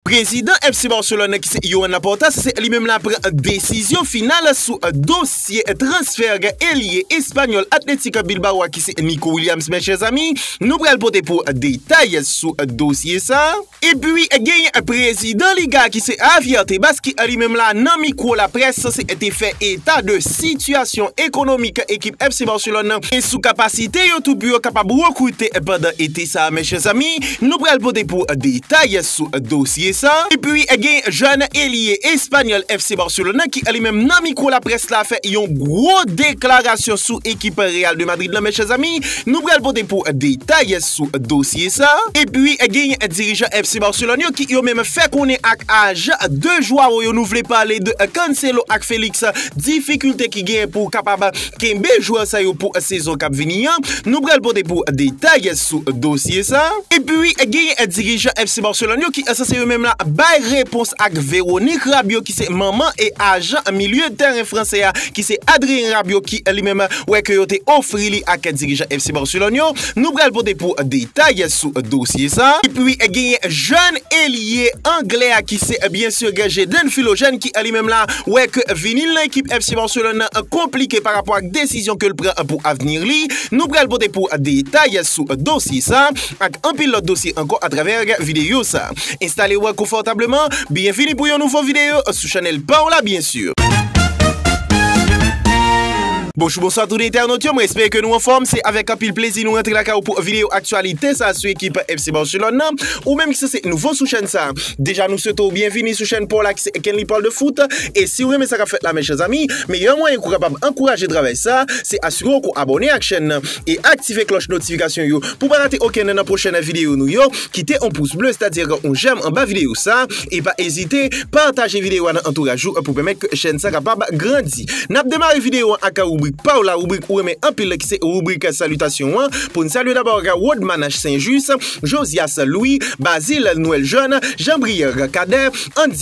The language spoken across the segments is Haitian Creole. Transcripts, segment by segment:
Prezidan FC Barcelone ki se Joan Laporta se li menm la pran desizyon final sou dosye transfè elye espanyòl Athletic Bilbao a ki se Nico Williams men chè zanmi nou pral pote pou detay sou dosye sa epi genyen prezidan liga a ki se Javier Tebas ki li menm la nan mikwo laprès se te fè eta de sitiyasyon ekonomik ekip FC Barcelone e sou kapasite yo tou pou yo kapab rekrite pandan ete sa men chè zanmi. Nou pral pote pou detay sou dosye sa. Epi gen jèn elye espanyòl FC Barcelona ki li menm nan mikwo laprès la fè yon gwo deklarasyon sou ekip Real de Madrid la mèchèzami. Nou pral pote pou detay sou dosye sa. Epi gen dirijan FC Barcelona yo ki yo menm fè konnen ak ajan de Joao yo nou vle pale de Cancelo ak Felix difikilte ki gen pou kapab Kenbe jwè sa yo pou sezon k ap vini an, nou pral pote pou detay sou dosye sa. Epi genyen dirijan FC Barcelone yo ki sanse yo menm la bay repons ak Véronique Rabiot ki se manman e ajan milye tèren fransè a ki se Adrien Rabiot ki li menm wè ke yo te ofri li ak dirijan FC Barcelone yo Nou pral pote pou detay sou dosye sa. Epi genyen jèn elye anglè a ki se byen sur gen Jayden Philogène ki li menm la wè ke vini l nan ekip FC Barcelone nan konplike pa rapò ak desizyon ke l pran pou avni li. Nou pral pote pou detay sou dosye sa ak anpil lòt dosye ankò atravè videyo sa. Instale ou konfòtableman, byenvini pou yon nouvo videyo sou chanèl pa w la byen sur. Bonjou bonswa tout entènot yo, mwen espere ke nou anfòm, se avèk anpil plezi nou rantre lakay ou pou videyo aktyalite sa sou ekip FC Barcelone nan, ou menm ki se se nouvo sou chèn sa, deja nou swete w byenvini sou chèn pa w la ki se Kenly Parle de Foot, e si w renmen sa kap fèt la mes chers amis, meyè mwayen ke w kapab ankouraje travay sa, se asire w ke w abòne ak chèn nan. e aktive klòch notifikasyon yo pou pa rate okennen nan pwochène videyo nou yo, kite on pous ble sètadi on jèm anba videyo sa, e pa ezite pataje videyo a nan antouraj ou pou pèmèt ke chèn sa kapab grandi. Nap demare videyo an ak ribrik paw la, ribrik ou renmen anpil la ki se ribrik salitasyon an, pou n salye dabò Rodmanache Saint Juste, Josias Louis, Bazil Noël Jeune, Jean Brière Cadet, Andy.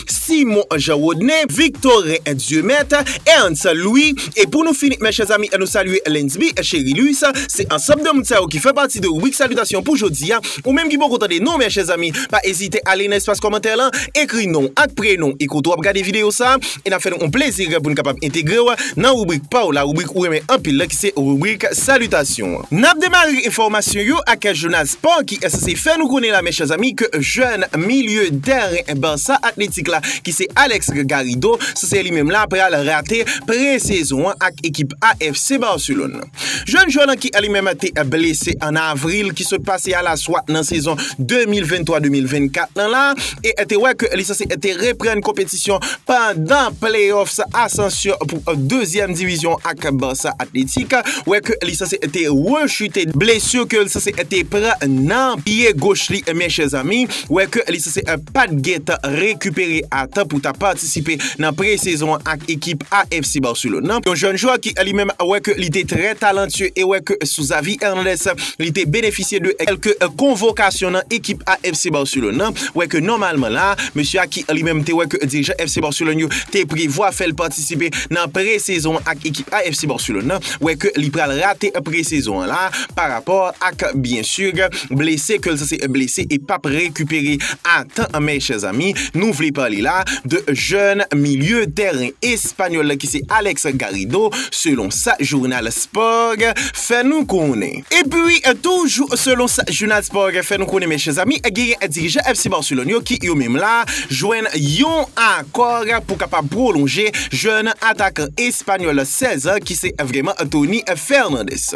Simon Jean Rodney, Victorin Dieumet, Ernst Louis, e pou nou fini mes chers amis nou salye Lensby Cherilus, se ansanm de moun sa yo ki fè pati de ribrik salitasyon pou jodi a, ou menm ki poko tande nou mes chers amis pa ezite ale nan espas kòmantè lan ekri non w ak prenon w e kote w ap gade video sa e nap fè nou yon plezi pou nou kapab entegre w nan ribrik pa w la ribrik ou renmen anpil la ki se ribrik salitasyon. Nap demare enfòmasyon yo ak jounal Sport ki SC fè nou konnen la mes chers amis ke jèn milieu tèren Barça Athletic la ki se Alex Garrido se se li menm la pral rate pre-sezon an ak ekip AFC Barcelone. Jèn jwè lan ki li menm te blese an avril ki sot pase a la swa nan sezon 2023-2024 lan la e te wè ke li sanse te reprann konpetisyon Dispozisyon pandan playoffs asansyon pou dezyèm divizyon ak Barça Athletic wè ke li sanse te rechute blesu ke li sanse te pran nan pye goch li men chè zanmi wè ke li sanse pat gentan rekipere a tan pou ta patisipe nan pre-sezon ak ekip AFC Barcelone nan yon jèn jwè ki li menm wè ke li te trè talantye e wè ke sou Xavi Hernandez li te benefisye de kelke konvokasyon nan ekip AFC Barcelone nan wè ke nòmalman la mesye a ki. an li menm te wè ke dirijan FC Barcelone yo te prevwa fè l patisipe nan pre-sezon an ak ekip A FC Barcelone nan, wè ke li pral rate pre-sezon an la a pa rapò ak byen sur blese ke l sanse blese e pap rekipere a tan an mes chers amis, nou vle pale la de jèn milye tèren espanyòl la ki se Alex Garrido selon sa journal Sport fè nou konnen. Epi toujou selon sa jounal sport fè nou konnen mes chers amis genyen dirijan FC Barcelone yo ki yo menm la jwenn yon akò pou kapab pwolonje jèn atakan espanyòl 16 an ki se vreman Tony Fernandes.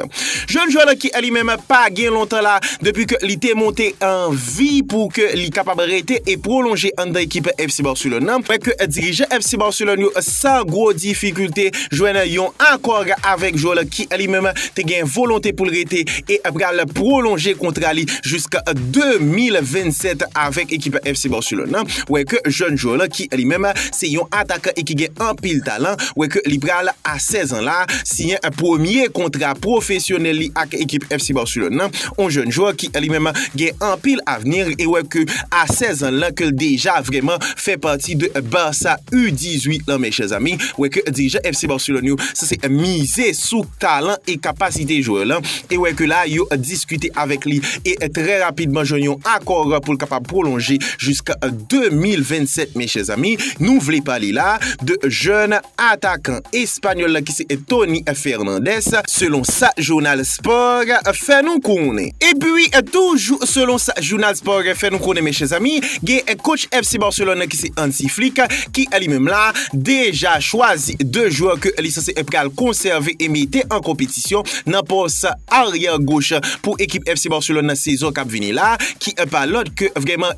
Jèn jwè la ki li menm pa gen lontan la depi ke li te monte anvi pou ke li kapab rete e pwolonje anndan ekip FC Barcelone nan, fè ke dirijan FC Barcelone yo san gwo difikilte, jwenn yon akò avèk jwè ki li menm te gen volonte pou l rete e pral pwolonje kontra li jiska 2027 avèk ekip FC Barcelone nan, wè ke jèn jwè la ki li menm se yon atakan e ki gen anpil talan, wè ke li pral a 16 an la siyen premye kontra pwofesyonèl li ak ekip FC Barcelone nan, yon jèn jwè ki li menm gen anpil avni e wè ke a 16 an la ke l deja vrèman fè pati de Barça U 18 lan men chè zami, wè ke dirijan FC Barcelone yo sanse mize sou talan e kapasite jwè lan e wè ke la yo diskite avèk li e trè rapidman jwenn yon akò pou l kapab pwolonje jiskan 2027 men chè zami, nou vle pale la de jèn atakan. Espanyòl la ki se Tony Fernandez, selon sa jounal Sport fè nou konnen. Epi toujou selon sa jounal Sport fè nou konnen men chè zanmi, gen kotch FC Barcelone nan ki se Hansi Flick ki li menm la deja chwazi 2 jwè ke li sanse pral konsève e mete an konpetisyon nan pòs aryè goch pou ekip FC Barcelone nan sezon kap vini la ki pa lòt ke vrèman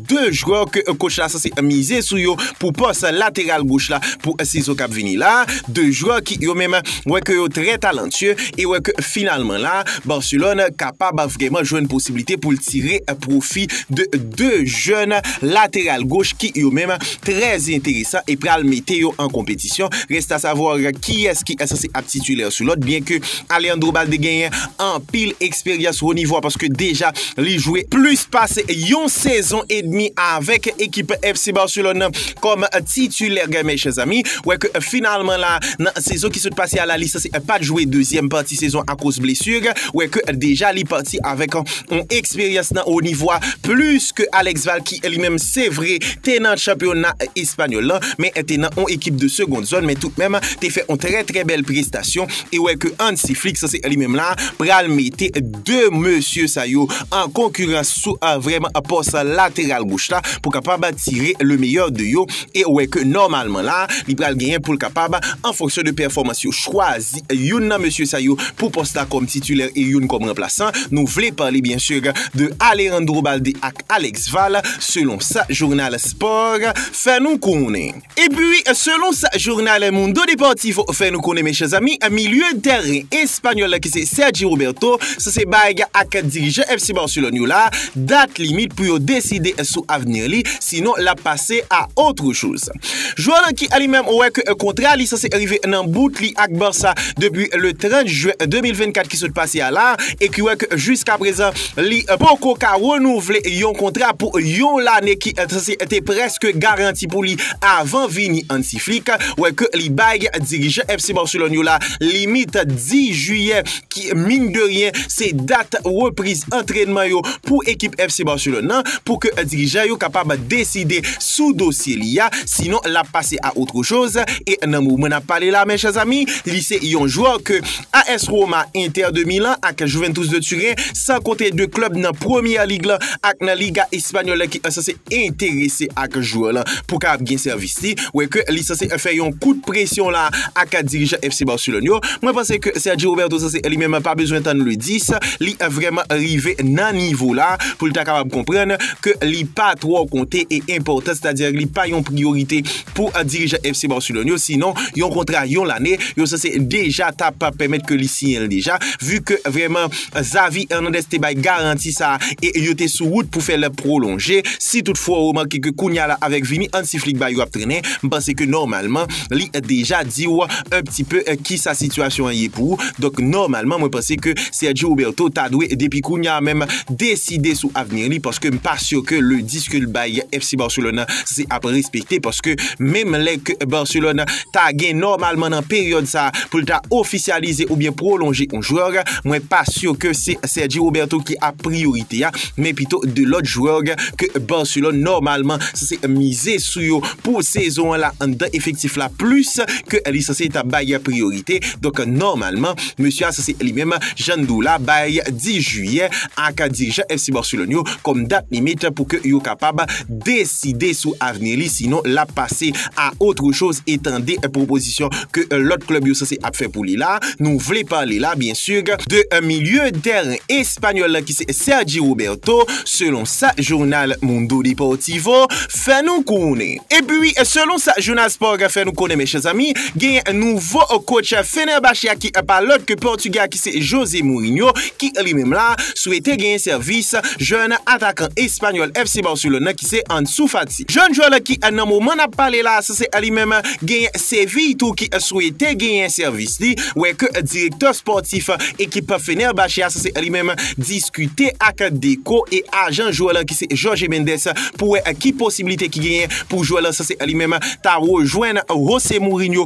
2 jwè ke kotch la sanse mize sou yo pou pòs lateral goch la pou sezon kap vini la, 2 jwè ki yo menm wè ke yo trè talantye e wè ke finalman la Barcelone kapab vreman jwenn posiblite poul tire pwofi de 2 jèn lateral goch ki yo menm trè enteresan e pral mete yo an konpetisyon, reste a savoir kiyès ki sanse ap titulaire sou lòt byen ke Alejandro Balde genyen anpil eksperyans wo nivo a paske deja Li jwe plis pase yon sezon edmi avèk ekip FC Barcelone nan kòm titulè gen men chèzanmi wè ke finalman la nan sezon ki sot pase a la li sanse pat jwe dezyèm pati sezon akoz blesu wè ke deja li pati avèk yon eksperyans nan wo nivo a plis ke Alex Val ki li menm se vre te nan chanpyona espanyòl lan men te nan yon ekip de segond zòn men tout menm te fè yon trè trè bèl prestasyon e wè ke Hansi Flick sanse li menm la pral mete 2 mesye sa yo an konkirans sou avèm pòs lateral goch la pou kapab tire le meyè de yo e wè ke nòmalman la li pral genyen pou l kapab an fonksyon de pèfòmans yo chwazi youn nan mesye sa yo pou pòs la kòm titulè e youn kòm ranplasan nou vle pale byen sur de Alejandro Balde ak Alex Val selon sa jounal sport fè nou konnen. Epi, selon sa jounal El Mundo Deportivo fè nou konnen men chè zanmi, milye tèren espanyòl la ki se Sergi Roberto sanse bay ak dirijan FC Barcelone yo la dat limit pou yo deside sou avni li, sinon l ap pase a autre chose. Jwè lan ki li menm wè ke kontra li sanse rive nan bout li ak Barça depi le 30 jen 2024 ki sot pase a la e ki wè ke jiskaprezan li poko ka renouvle yon kontra pou yon lane ki sanse te prèske garanti travay pou li avan vini Hansi Flick wè ke li bay dirijan FC Barcelone yo la limit 10 jiyè ki mine de rien se dat repriz antrenman yo pou ekip FC Barcelone nan pou ke dirijan yo kapab deside sou dosye li a sinon lap pase a autre chose e nan moman nap pale la mes chers amis li se yon jwè ke AS Roma, Inter de Milan ak Juventus de Turen, san konte 2 klub nan Premier League la ak nan Liga Espanyòl la ki sanse enterese ak jwè lan pou kapab gen sèvis li, wè ke li sanse fè yon kout presyon la ak dirijan FC Barcelone yo. Mwen panse ke Sergi Roberto sanse li menm pa bezwen tann le 10, li vrèman rive nan nivo la pou li ta kapab konprann ke li pa twò konte e enpòtan, sètadi li pa yon priyorite pou dirijan FC Barcelone yo sinon yon kontra yon lane yo sanse deja ta pa pèmèt ke li siyen l deja vu ke vrèman Xavi Hernandez te bay garanti sa e yo te sou wout pou fè l pwolonje si tout fwa ou remake ke kounya la avèk vini Hansi Flick ba yo ap trennen m panse ke nòmalman li deja di ou un pti peu kisa sitiyasyon an ye pou ou donk nòmalman mwen panse ke Sergio Roberto ta dwe depi kounya menm deside sou avni li paske m pa sur ke le 10 ke l bay FC Barcelona sa se ap respekte paske menm lè ke Barcelona ta gen nòmalman nan peryòd sa pou l ta ofisyalize oubyen pwolonje yon jwè mwen pa sur ke se Sergi Roberto ki ap priyorite a men pito 2 lòt jwè ke Barcelona nòmalman sa se mize sou yo pou sezon la anndan efektif la plis ke li sa se ta bay priyorite donk nòmalman mesye a sa se li menm Jandou la bay 10 jiyè ak dirijan FC Barcelona yo. kòm dat limit pou ke yo kapab deside sou avni li sinon lap pase a otre choz e tande pwopozisyon ke lòt klèb yo sanse ap fè pou li la a, nou vle pale la byen sur de milye tèren espanyòl la ki se Sergi Roberto selon sa jounal Mundo Deportivo fè nou konnen. Epi selon sa jounal Sport fè nou konnen mèche zanmi genyen nouvo kotch Fenerbahçe a ki pa lòt ke pòtugè a ki se Jose Mourinho ki li menm la swete genyen sèvis jèn atakan espanyòl FC Barcelone nan ki se Ansu Fati. Jèn jwè la ki nan moman nap pale la se li menm genyen Séville tou ki swete genyen sèvis li wè ke direktè spòtif ekip Fenerbahçe a se li menm diskite ak Deco e ajan jwè la ki se Jorge Mendes pou wè ki posibilite ki genyen pou jwè la se li menm ta rejwenn Jose Mourinho.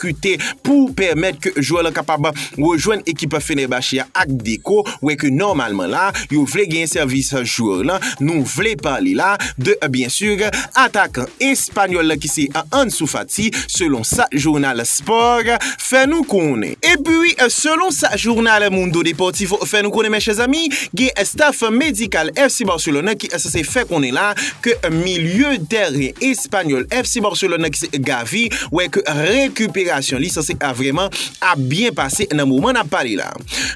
kute pou pèmèt ke jwè lan kapab rejwenn ekip Fenerbahçe a ak Deco wè ke nòmalman la yo vle genyen sèvis jwè lan nou vle pale la de byen sur atakan espanyòl la ki se Ansu Fati selon sa jounal Sport fè nou konnen. Epi selon sa jounal Mundo Deportivo fè nou konnen men chè zanmi gen staff medikal FC Barcelone ki sanse fè konnen la ke milye tèren espanyòl Spanyòl FC Barcelone nan ki se Gavi wè ke rekiperasyon li sanse vreman ap byen pase nan moman nap pale la.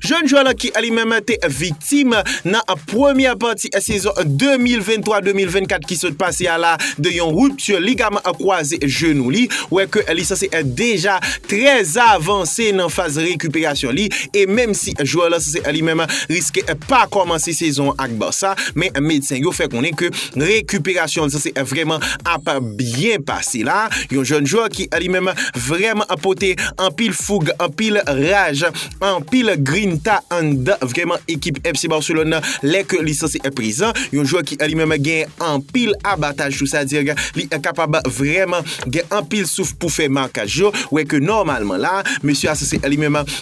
Jèn jwè lan ki li menm te viktim nan premyè pati sezon 2023-2024 ki sot pase a la de yon rupture ligaman kwaze jenou li wè ke li sanse deja trè avanse nan faz rekiperasyon li e menm si jwè lan sanse li menm riske pa kòmanse sezon ak Barça men medsen yo fè konnen ke Rekiperasyon Cesc vrèman ap byen pase la, yon jèn jwè ki li menm vrèman pote anpil foug, anpil raj, anpil grinta anndan vrèman ekip FC Barcelone nan lè ke li sanse prezan, yon jwè ki li menm gen anpil abataj tou sa di ke li kapab vrèman gen anpil souf pou fè makaj yo, wè ke nòmalman la mesye a sanse li menm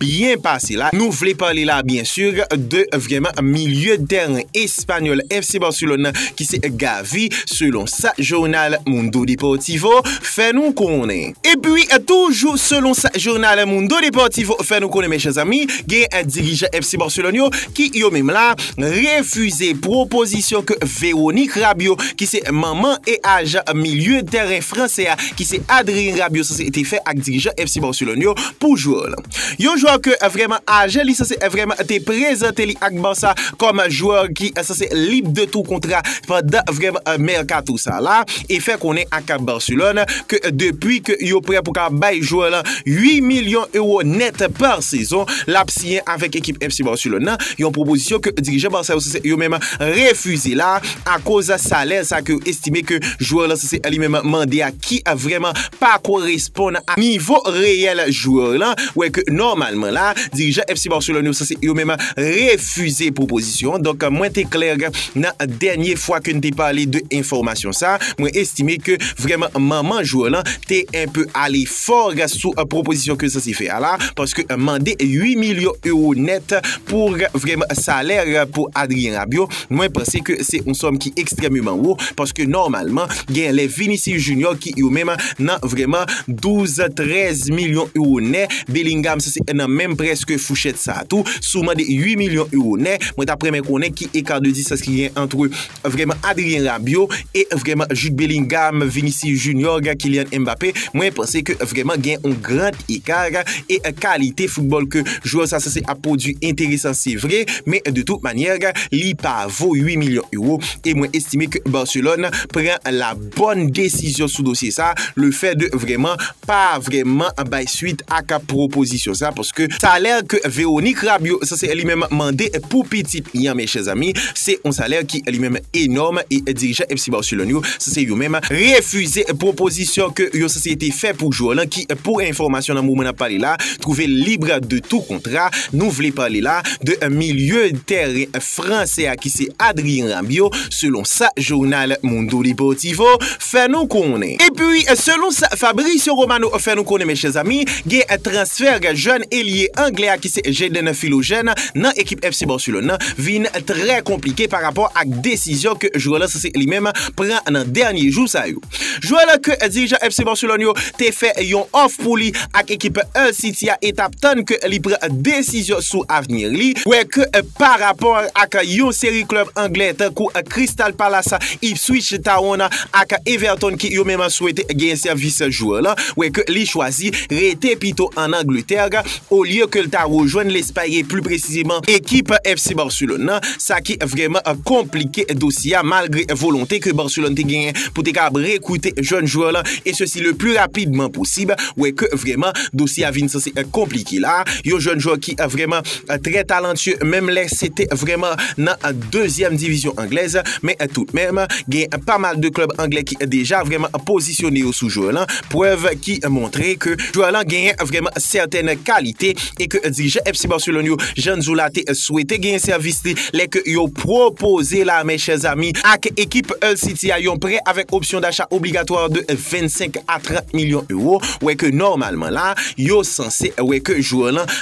byen pase la. Nou vle pale la byen sur de vrèman milye de tèren espanyòl FC Barcelone nan ki se Gavi selon sa jounal Mundo Deportivo fè nou konnen. Epi toujou selon sa jounal Mundo Deportivo fè nou konnen men chè zanmi gen dirijan FC Barcelone yo ki yo menm la refize pwopozisyon ke Véronique Rabiot ki se manman e ajan milye de tèren fransè a ki se Adrien Rabiot sanse te fè ak dirijan FC Barcelone yo Pou jwè lan. Yon jwè ke vrèman aje li sanse vrèman te prezante li ak Barça kòm jwè ki sanse lib de tou kontra pandan vrèman mèkato sa la e fè konnen ak Barcelone ke depi ke yo prè pou ka bay jwè lan 8 milyon euro nèt pa sezon l ap siyen avèk ekip FC Barcelone nan, yon pwopozisyon ke dirijan Barça yo sanse yo menm refize la akoz salè sa ke yo estime ke jwè lan sanse li menm mande a. ki vrèman pa koresponn a nivo reyèl jwè w lan, wè ke nòmalman la, dirijan FC Barcelone yo sanse yo menm refize pwopozisyon an. Donk, mwen te klè nan dènye fwa ke n te pale de enfòmasyon sa a. Mwen estime ke vrèman manman jwè w lan te enpe ale fò sou pwopozisyon ke l sanse fè a la, paske mande 8 milyon ewo nèt pou vrèman salè pou Adrien Rabiot, Mwen panse ke se yon sòm ki ekstrèmeman wo, paske nòmalman gen lè Vinicius Junior ki yo menm nan vrèman 12, 13 milyon euro nè, Bellingham se nan menm prèske fouchèt sa tou, sou mande 8 milyon euro nè, mwen tap renmen konnen ki ecart de distance ki gen antre vrèman Adrien Rabiot E vrèman Jude Bellingham, Vinicius Junior, Kylian Mbappé, mwen panse ke vrèman gen yon grand écart e kalite football ke jwè sa sanse ap pwodwi enteresan se vre, men de tout manyè li pa vo 8 milyon euro e mwen estime ke Barcelone pran la bonne desizyon sou dosye sa, le fait de vrèman pa vrèman bay swit ak pwopozisyon sa paske sa a lè ke Véronique Rabiot sa se li menm mande pou pitit li an men chèzanmi se yon salè ki li menm enòm e dirijan FC Barcelone yo sa se yo menm refize pwopozisyon ke yo sa se te fè pou jwè lan ki pou enfòmasyon nan moman n ap pale la twouve l lib de tou kontra nou vle pale la de milye tèren fransè a ki se Adrien Rabiot selon sa jounal Mundo Deportivo fè nou konnen. Epi, selon sa Fabrizio Romano fè nou konnen, mèche zanmi, gen transfè jèn elye anglè a ki se Jayden Philogene nan ekip FC Barcelone nan vin trè konplike pa rapò ak desizyon ke jwè lan sanse li menm pran nan dènye jou sa yo. Jwè lan ke dirijan FC Barcelone yo te fè yon òf pou li ak ekip Hull City a e tap tann ke li pran desizyon sou avni li, kwè ke pa rapò ak yon seri klèb anglè tankou Crystal Palace Ipswich Town ak Everton ki yo menm swete gen sèvis jwè lan wè ke li chwazi rete pito an Angletè olye ke l ta rejwenn Lespay e pli presizeman ekip FC Barcelone lan, sa ki vrèman konplike dosye a malgre volonte ke Barcelone te genyen pou te kapab rekrite jèn jwè lan e sesi le pli rapidman posib wè ke vrèman dosye a vin sanse konplike la a, yon jèn jwè ki vrèman trè talantye menm lè se te vrèman nan. dezyèm divizyon anglèz, men toudmenm gen pa mal de klèb anglè ki deja vrèman pozisyone yo sou jwè lan, prèv ki montre ke jwè lan genyen vrèman sètèn kalite e ke dirijan FC Barcelone yo, Jan Zoula te swete genyen sèvis li lè ke yo pwopoze la men chè zami ak ekip Hull City a yon prè avèk opsyon dacha obligatwa de 25 a 30 milyon ewo, wè ke nòmalman la yo sanse wè ke jwè lan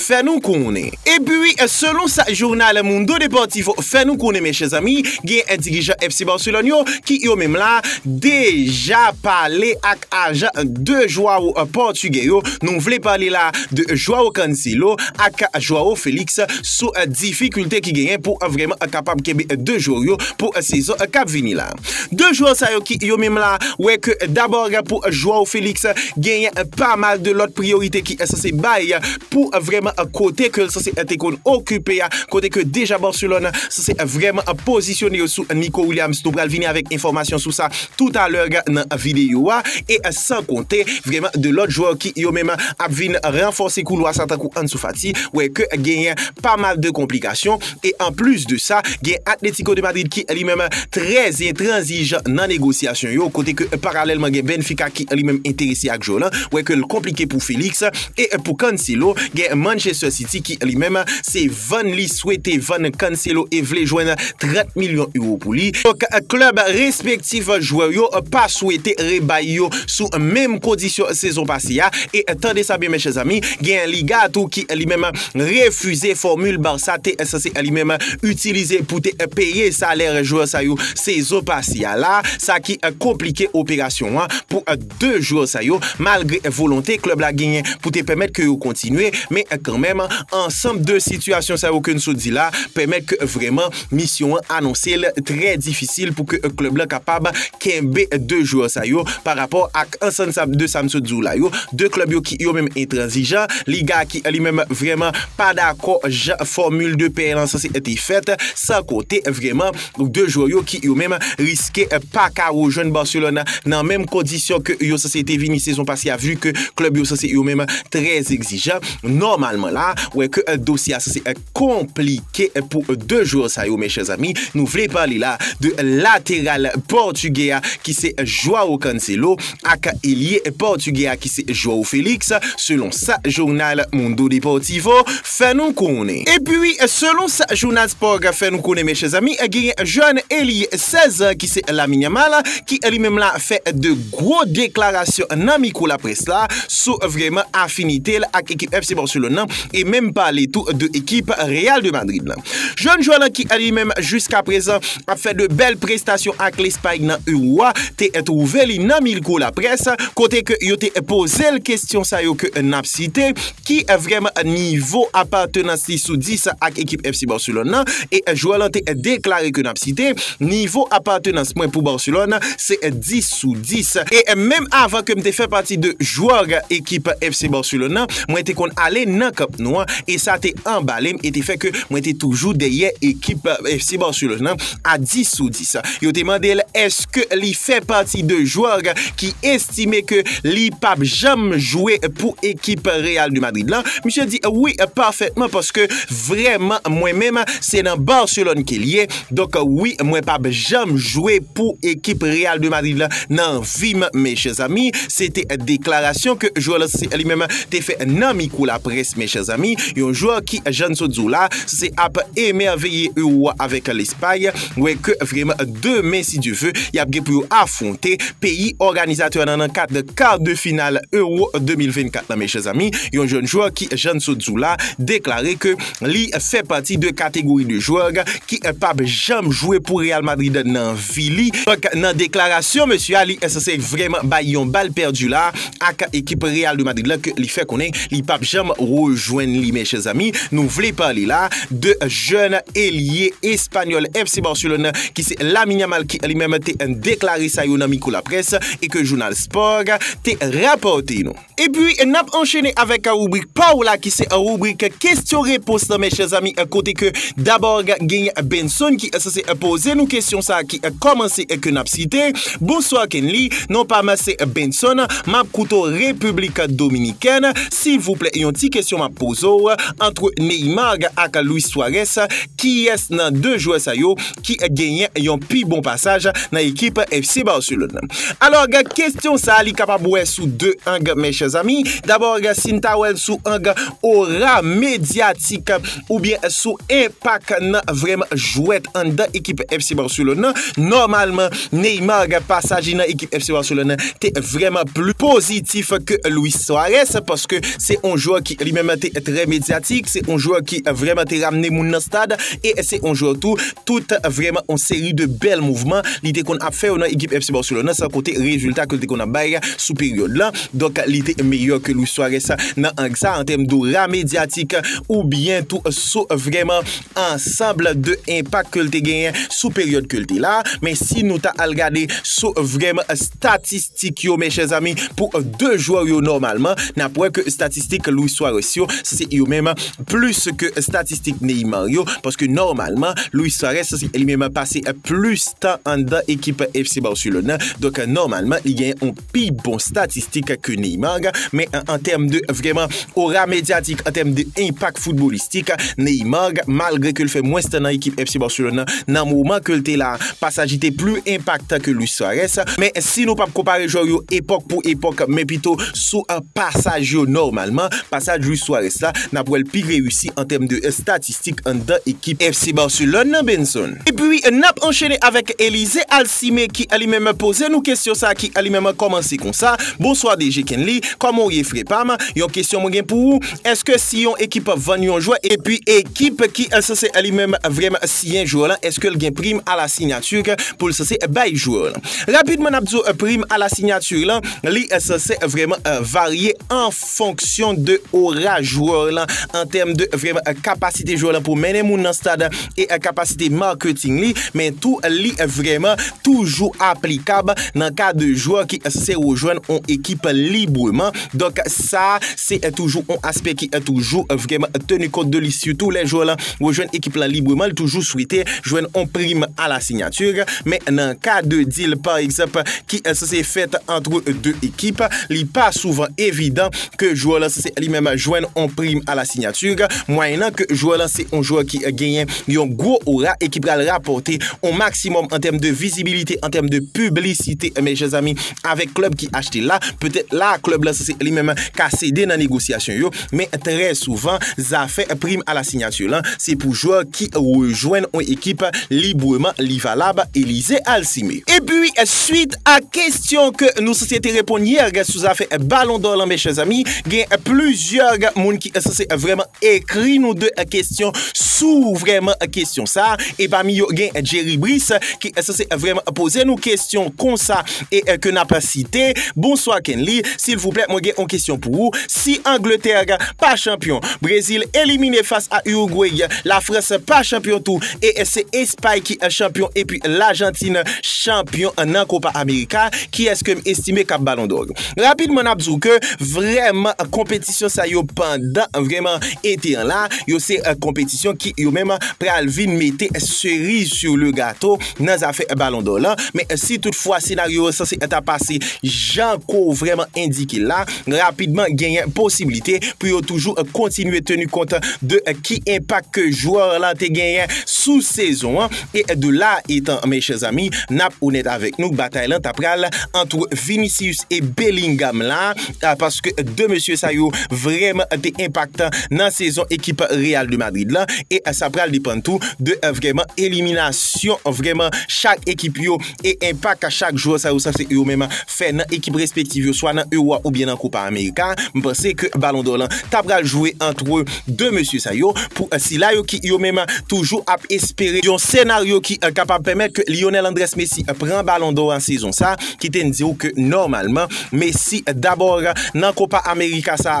fè nou konnen. Epi, selon sa jounal Mundo Deportivo fè nou konnen men chè zanmi, gen dirijan FC Barcelone yo ki yo menm la deja pale ak ajan 2 jwao pòtigè yo, nou vle pale la de Joao Cancelo ak Joao Felix sou difikilte ki genyen pou vreman kapab kenbe 2 jwè yo pou sezon kap vini la. 2 jwè sa yo ki yo menm la wè ke dabò gen pou Joao Felix genyen pa mal de lòt priyorite ki sanse bay pou vrèman kote ke l sanse te konn okipe a, kote ke deja Barcelone sanse vrèman pozisyone yo sou Nico Williams, nou pral vini avèk enfòmasyon sou sa tout a lè nan videyo a, e san konte vrèman de lòt jwè ki yo menm ap vin ranfòse koulwa sa tankou Ansu Fati wè ke genyen pa mal de konplikasyon. E anplis de sa, gen Atlético de Madrid ki li menm trè entranzijan nan negosyasyon yo, kote ke paralèlman gen Benfica ki li menm enterese ak jwè w lan, wè ke l konplike pou Félix. E pou Cancelo, gen Manchester City ki li menm se vann li swete vann Cancelo e vle jwenn 30 milyon euro pou li. Donk klèb respektif jwè yo pa swete rebay yo sou menm kondisyon sezon pase a. E tande sa byen men chè zanmi, gen Liga a tou ki li menm. refize fòmil Barça te ensanse limenm itilize pou te peye salè jwè sa yo sezon pase a la, sa ki konplike operasyon an pou 2 jwè sa yo malgre volonte klèb la genyen pou te pèmèt ke yo kontinye, men kanmenm ansanm 2 sitiyasyon sa yo ke n sot di la pèmèt ke vrèman misyon an anonse l trè difisil pou ke klèb la kapab. kenbe 2 jwè sa yo pa rapò ak ansann sa de sa m sot di w la yo, 2 klèb yo ki yo menm entranzijan, Liga ki li menm vrèman pa dakò jan fòmil de pay lan sanse te fèt, san konte vrèman 2 jwè yo ki yo menm riske pa ka rejwenn Barcelone nan menm kondisyon ke yo sanse te vini sezon pase a vu ke klèb yo sanse yo menm trè egzijan, nòmalman la wè ke dosye a sanse. konplike pou 2 jwè sa yo men chè zanmi, nou vle pale la de lateral pòtugè a ki se Joao Cancelo ak elye pòtugè a ki se Joao Felix selon sa jounal Mundo Deportivo fè nou konnen. Epi selon sa jounal Sport fè nou konnen men chè zanmi genyen jèn elye 16 an ki se Lamine Yamal ki li menm la fè 2 gwo deklarasyon nan mikwo laprès la sou vreman afinite l ak ekip FC Barcelone nan e menm pale tou de ekip Real de Madrid la. Jèn jwè la ki li menm jiska prezan ap fè de bèl prestasyon ak Lespay nan Euro a te twouve li nan milko laprès kote ke yo te poze l kestyon sa yo ke n ap site, ki vrèman nivo apatenans li sou 10 ak ekip FC Barcelone nan e jwè lan te deklare ke n ap site, nivo apatenans mwen pou Barcelone se 10. sou 10. E menm avan ke m te fè pati de jwòg ekip FC Barcelone nan, mwen te konn ale nan Camp Nou an e sa te anbale m e te fè ke mwen te toujou dèyè ekip FC Barcelone nan a 10 sou 10. Yo te mande l èske li fè pati de jwòg ki estime ke li p ap janm jwe pou ekip Real de Madrid lan, misye di wi pafètman paske vrèman mwen menm se nan Barcelone ke l ye. Donk wi mwen pap janm jwe pou ekip Real de Madrid la nan vi m mèchè zanmi, se te deklarasyon ke jwè Lens li menm te fè nan mikwo laprès mèchè zanmi, yon jwè ki jan n sot di w la se ap emèveye Euro a avèk Lespay, wè ke vreman demen si Dye ve y ap gen pou yo afwonte peyi òganizatè nan nan kad kar de final Euro 2024 la mèchè zanmi, yon jèn jwè ki jan n sot di w la deklare ke. Li fè pati de kategori de jwè ki pap janm jwe pou Real Madrid nan vi li. Donk nan deklarasyon mesye a li sanse vrèman bay yon bal pèdi la ak ekip Real de Madrid la ke li fè konnen li pap janm rejwenn li. Men chèzanmi nou vle pale la de jèn elye espanyòl FC Barcelone ki se Lamine Yamal ki li menm te deklare sa yo nan mikwo laprès e ke jounal Sport te rapòte nou. Epi nap anchene avèk ribrik pa ou la ki se ribrik kesyon repons la mèchè zami kote ke dabòg genyen Benson ki sòse poze nou kesyon sa ki kòmanse ke nap site Bonswa Kenly non pa m se Benson map koute w Repiblik Dominikèn silvouplè yon ti kesyon map poze w antre Neymar ak Luis Suarez kiyès nan 2 jwè sa yo ki genyen yon pi bon pasaj nan ekip FC Barcelone. Alòg, kestyon sa li kapab wè sou 2 ang mes chers amis. Dabòg, si n ta wè l sou ang ora medyatik oubyen sou enpak nan vrèman jwèt anndan ekip FC Barcelone nan, nòmalman Neymar pasaj li nan ekip FC Barcelone nan te vrèman pli pozitif ke Luis Suarez paske se yon jwè ki li menm te trè medyatik, se yon jwè ki vrèman te ramne moun nan stad. e se on jwè tou tout vrèman on seri de bèl mouvman li te konn ap fè yo nan ekip FC Barcelone nan san konte rezilta ke li te konn ap bay sou peryòd lan donk li te meyè ke Luis Suarez nan ang sa an tèm dora medyatik ou byen tou sou vrèman ansanb de enpak ke li te genyen sou peryòd ke li te la men si nou ta al gade sou vrèman statistik Tik yo men chèzami pou 2 jwè yo nòmalman nap wè ke statistik Luis Suarez yo se yo menm plis ke statistik Neymar yo paske nòmalman Luis Suarez li menm pase plis tan anndan ekip FC Barcelone nan donk nòmalman li gen yon pi bon statistik ke Neymar men an tèm de vrèman Ora medyatik an tèm de enpak foutbolistik, Neymar, malgre ke l fè mwens tan nan ekip FC Barcelone nan moman ke l te la, pa sa ji te pli enpaktan ke Luis Suarez. Men si nou pap konpare jwè yo epòk pou epòk, men pito sou pasaj yo nòmalman, pasaj Luis Suarez la, nap wè l pi reyisi an tèm de statistik. fantastik anndan ekip FC Barcelone nan Benson. Epi nap anchene avèk Elysée Alcimé ki li menm poze nou kesyon sa ki li menm kòmanse konsa, Bonswa DG Kenly, kòman ou ye frè pam, yon kesyon mwen gen pou ou, èske si yon ekip vann yon jwè epi ekip ki sanse li menm vrèmn siyen jwè lan èske l gen prim a la signature ke pou l sanse bay jwè lan? Rapidman nap di w prim a la signature lan li sanse vrèman varye an fonksyon de ora jwè w lan, an tèm de vreman kapasite jwè w lan pou mennen moun nan stad e kapasite marketing li, men tou li vreman toujou aplikab nan ka de jwè ki se rejwenn on ekip libreman. Donk sa se toujou on aspè ki toujou vreman teni kont de li sitou lè jwè w lan rejwenn ekip lan libreman li toujou swete jwenn on prim a la signature men nan ka de deal pa egzanp ki sanse fèt antre 2 ekip, li pa souvan evidan ke jwè lan sanse li menm jwenn on prim a la signature, mwayennan ke jwè lan se on jwè ki genyen yon gwo ora e ki pral rapòte on maksimòm an tèm de vizibilite, an tèm de piblisite, men chè zanmi, avèk klèb ki achte la, petèt la klèb lan sanse li menm ka sede nan negosyasyon yo. Men trè souvan, zafè prim a la sinyati lan se pou jwè ki rejwenn on ekip libreman li valab, Elysée Alcimé. Epi, swit a kestyon ke nou sanse te reponn yè sou zafè balon dò lan men chèzanmi, gen plizyè moun ki sanse vrèman ekri nou de kestyon sou vrèman kestyon sa a, e pami yo gen Jerry Brice ki sanse vrèman poze nou kestyon konsa e ke n ap site, Bonswa Kenly, silvouplè mwen gen on kestyon pou ou, Si Angletè pa chanpyon, Brezil elimine fas a Urugway, Lafrans pa chanpyon tou e se Espay ki chanpyon epi Lajantin chanpyon nan Kopa Amerika, kiyès kem estime kap Balon Dò? Rapidman nap di w ke vrèman konpetisyon sa yo pandan vrèman ete an la, yo se konpetisyon ki yo menm pral vin mete seriz sur le gato nan zafè Balon Dò lan, men si tout fwa senaryo yo sanse ta pase jan ke w vrèman endike l la, rapidman genyen posiblite pou yo toujou kontinye teni kont de ki enpak ke jwè la te genyen sou sezon an e de la etan mes chers amis nap onèt avèk nou batay lan ta pral antre Vinicius e Bellingham la paske 2 mesye sa yo vrèman te enpaktan nan sezon ekip Real de Madrid lan e sa pral depann tou de vrèman eliminasyon vrèman chak ekip yo e enpak chak jwè sa yo sa se yo menm fè nan ekip respektiv yo swa nan Ewo oubyen nan Kopa Amerika, m panse ke Balon Dò lan ta pral jwe antre 2 mesye sa yo pou sila yo ki yo menm toujou ap espere yon senaryo ki kapab pèmèt ke Lionel Andrés Messi pran Balon Dò a sezon sa, kite n di w ke nòmalman Messi dabò nan Kopa Amerika sa.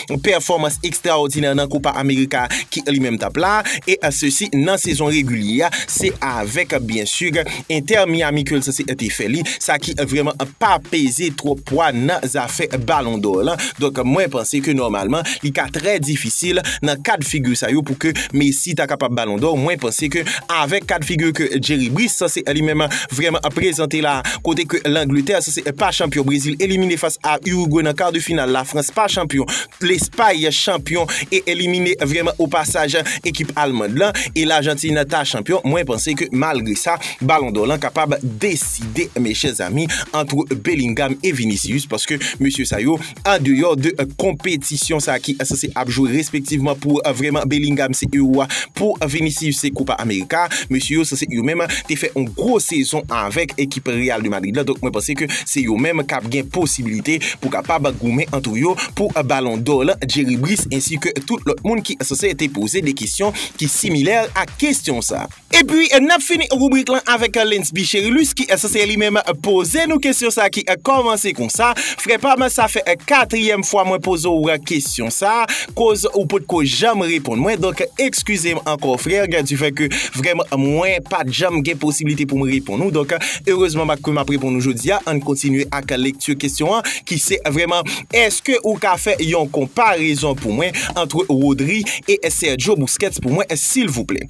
pèfòmans ekstraòdinè nan Copa America ki li menm tap la, e se si nan sezon regilye a, se avèk byen si Inter Miami ke lsa se te fè li, sa ki vrèman pa peze twòp pwa nan zafè balon dò lan, donk mwen panse ke nòmalman li ka trè difisil nan kad figi sa yo pou ke Messi ta kapab balon dò, mwen panse ke avèk kad figi ke Jerry Brice se li menm Vrèman ap prezante la. Kote ke Langletè se se pa chanpyon Brezil elimine fas a Urugwe nan kar de final la Frans pa chanpyon Lespay chanpyon e elimine vrèman o pasaj ekip Almand lan e Lajantin ta chanpyon mwen panse ke malgre sa balon dò lan kapab deside mes chers amis antre Bellingham e Vinicius paske mesye sa yo Andeyò de konpetisyon sa ki sanse ap jwe respektivman pou vrèman Bellingham se ewo a, pou Vinicius se Copa America, mesye yo sanse yo menm te fè yon gwo sezon avèk ekip Real de Madrid la donk mwen panse ke se yo menm kap gen posibilite pou kapab goumen antre yo pou Ballon d'Or lan Jerry Brice ensi ke tout lòt moun ki sanse te poze de kesyon ki similè ak kesyon sa. Epi nap fini rubrik lan avèk Linsby Cherilus ki sanse li menm poze nou kesyon sa ki kòmanse konsa, Frè pam sa fè katriyèm fwa mwen poze w kesyon sa koz ou potko janm reponn mwen donk ekskize m ankò frè du fait ke vrèman mwen pat janm gen posiblite pou m reponn ou donk erezman m ke map reponn ou jodi a. Ann kontinye ak lekti kesyon an ki se vrèman èske ou ka fè yon konparezon pou mwen antre Rodri e Sergio Busquets pou mwen silvouplè?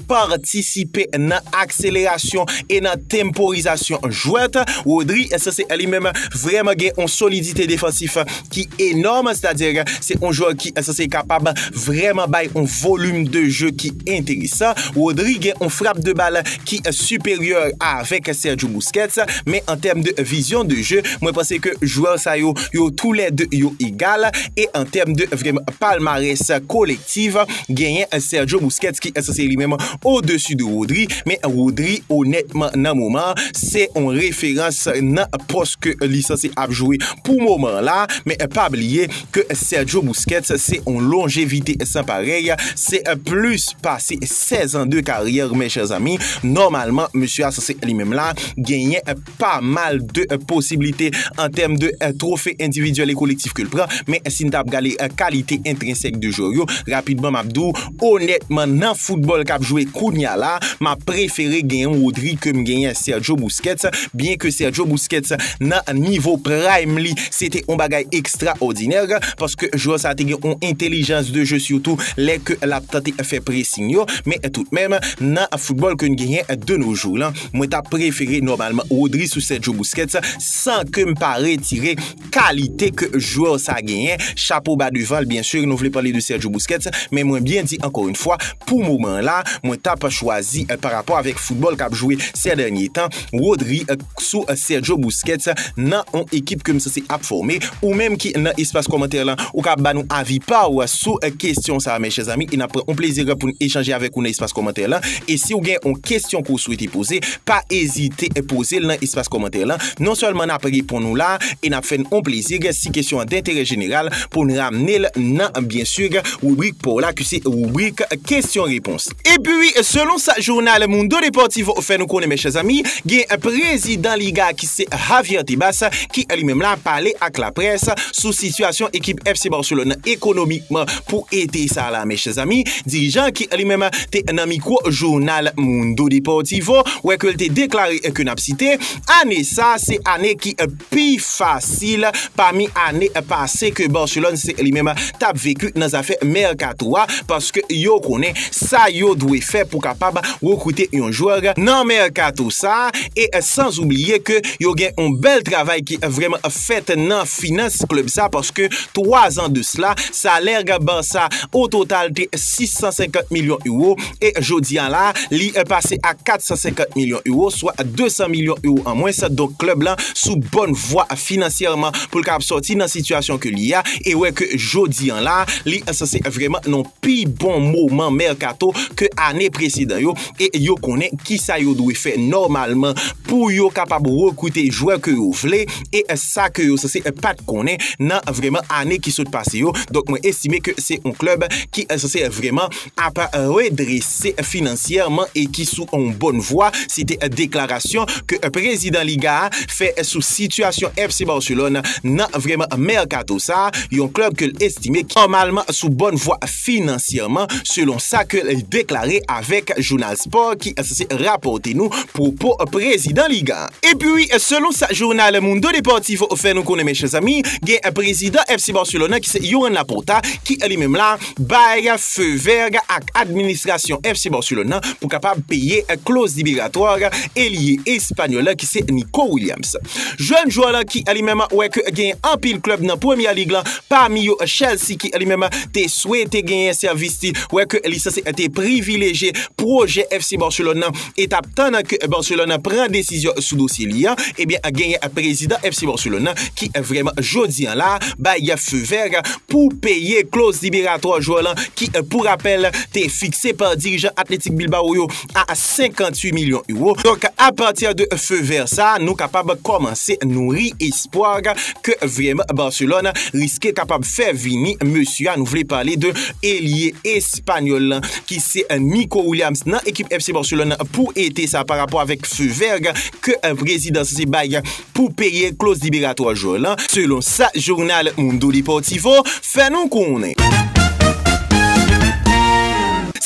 patisipe nan akselerasyon e nan temporizasyon jwèt Rodri sa se li menm vrèman gen yon solidite defansif ki enòm sètadi se yon jwè ki sa se kapab vrèman bay yon volim de je ki enteresan Rodri gen yon frap de bal ki siperyè avèk Sergio Busquets men an tèm de vizyon de je mwen panse ke jwè sa yo yo tou lè 2 yo egal e an tèm de vrèman palmarès kolektif. aktif, genyen Sergio Busquets ki ensanse li menm o desi de Rodri, men Rodri onètman nan moman an se yon referans nan pòs ke li sanse ap jwe pou moman an la, men pa bliye ke Sergio Busquets se yon lonjevite san parèy, se plis pase 16 an de karyè mes chers amis, nòmalman mesye a sanse li menm la genyen. pa mal de posiblite an tèm de twofe endividyèl e kolektif ke l pran, men si n ta ap gade kalite entrensèk de jwè yo, rapidman m ap di w, onètman nan foutbòl k ap jwe kounya la, m ap prefere gen yon Rodri ke m gen yon Sergio Busquets, byen ke Sergio Busquets nan nivo prime li, se te yon bagay ekstraòdinè, paske jwè sa te gen yon entelijans de jeu sitou lè ke l ap tante fè pressing yo, men tout menm nan foutbòl ke n genyen de no jou lan. Mwen ta prefere nòmalman Rodri sou Sergio Busquets san ke m pa retire kalite ke jwè sa genyen, chapo ba devan l byen sur nou vle pale de Sergio Busquets men mwen byen di ankò yn fwa pou moman an la mwen ta p chwazi pa rapò avèk foutbòl kap jwe sè dènye tan Rodri sou Sergio Busquets nan on ekip ke m sanse ap fòme ou menm ki nan espas kòmantè lan ou ka ba nou avi pa w sou kesyon sa mè chè zanmi e nap pran yon plezi pou n echanje avèk ou nan espas kòmantè lan e si ou gen yon kesyon ke ou swete poze pa ezite poze l nan espas kòmantè lan non sèlman nap reponn ou la e nap fè n yon plezi si kesyon an denterè jeneral pou n ramne l nan byen sur ribrik pa w la ki se ribrik kesyon repons. Epi, selon sa jounal Mundo Deportivo fè nou konnen mèchè zanmi, gen prezidan liga ki se Javier Tebas ki li menm la pale ak laprès sou sitiyasyon ekip FC Barcelone nan ekonomikman pou ete sa la mèchè zanmi. Dirijan an ki li menm te nan mikwo jounal Mundo Deportivo wè ke li te deklare ke nap site, ane sa se ane ki pi fasil pami ane pase ke Barcelone se li menm t ap vekwi nan zafè mèkato a paske yo konnen sa yo dwe fè pou kapab rekrite yon jwè nan mèkato sa e san oubliye ke yo gen yon bèl travay ki vrèman fèt nan finans klèb sa paske 3 zan de sla salè Barça ototal te 650 milyon euro. e jodi an la li pase a 450 milyon euro swa 200 milyon euro an mwens donk klèb lan sou bòn vwa finansyèman pou l kapab sòti nan sitiyasyon ke li a e wè ke jodi an la li sanse vreman nan pi bon moman mèkato ke ane presedan yo e yo konnen kisa yo dwe fè nòmalman pou yo kapab rekrite jwè ke yo vle e sa ke yo sanse pa t konnen nan vreman ane ki sot pase yo donk mwen estime ke se yon klèb ki sanse vreman ap redrese finansyèman e ki sou yon bòn vwa, se te deklarasyon ke prezidan Liga a fè sou sitiyasyon FC Barcelone nan vrèman mèkato sa a, yon klèb ke l estime ki nòmalman sou bòn vwa finansyèman, selon sa ke l deklare avèk jounal Sport ki sanse rapòte nou pwopo prezidan Liga a. Epi, selon sa jounal Mundo Deportivo fè nou konnen men chè zanmi, gen prezidan FC Barcelone nan ki se Joan Laporta ki li menm la, bay feu vert ak administrasyon FC Barcelone nan pou kapab peye kloz liberatwa elye espanyòl la ki se Nico Williams. Jèn jwè la ki li menm wè ke genyen anpil klub nan Premier League lan pami yo Chelsea ki li menm te swete genyen sèvis li wè ke li sanse te privileje pwojè FC Barcelone nan e tap tann an ke Barcelone pran desizyon sou dosye li an, ebyen genyen prezidan FC Barcelone an ki vreman jodi an la bay feu vert pou peye kloz liberatwa jwè lan ki pou rapèl te fikse pa dirijan Athletic Bilbao yo a 58 milyon euro. Donk a pati de feu vert sa nou kapab kòmanse nouri espwa ke vreman Barcelone riske kapab fè vini mesye a nou vle pale de elye esp. Panyòl lan ki se Nico Williams nan ekip FC Barcelone pou ete sa pa rapò avèk feu vert ke prezidans se bay pou peye kloz liberatwa jwè lan, selon sa jounal Mundo Deportivo fè nou konnen.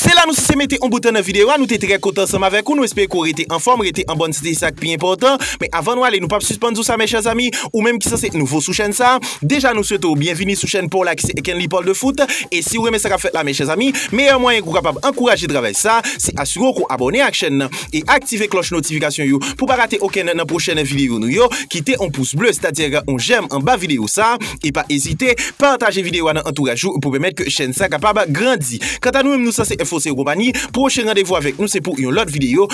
Se la nou sise mete yon bout nan videyo a, nou te trè kontan ansanm avèk ou, nou espere ke w rete anfòm, rete an bòn sante se sa k pi enpòtan, men avan nou ale nou pap sispann di w sa mes chers amis, ou menm ki sanse nouvo sou chèn sa. Deja nou swete w byenvini sou chèn pa w la ki se Ekenly Parle de Foot e si w renmen sa k ap fèt la men chè zanmi, meyè mwayen ke w kapab ankouraje travay sa, se asire w ke w abòne ak chèn nan e aktive klòch notifikasyon yo pou w pa rate okenn nan pwochèn videyo nou yo, kite yon pous ble sètadi yon jèm anba videyo sa e pa ezite pataje videyo a nan antouraj ou pou pèmèt ke chèn sa kapab grandi. Kanta nou menm nou sanse info se yo konpani, pwochen randevou avèk nou se pou yon lòt videyo.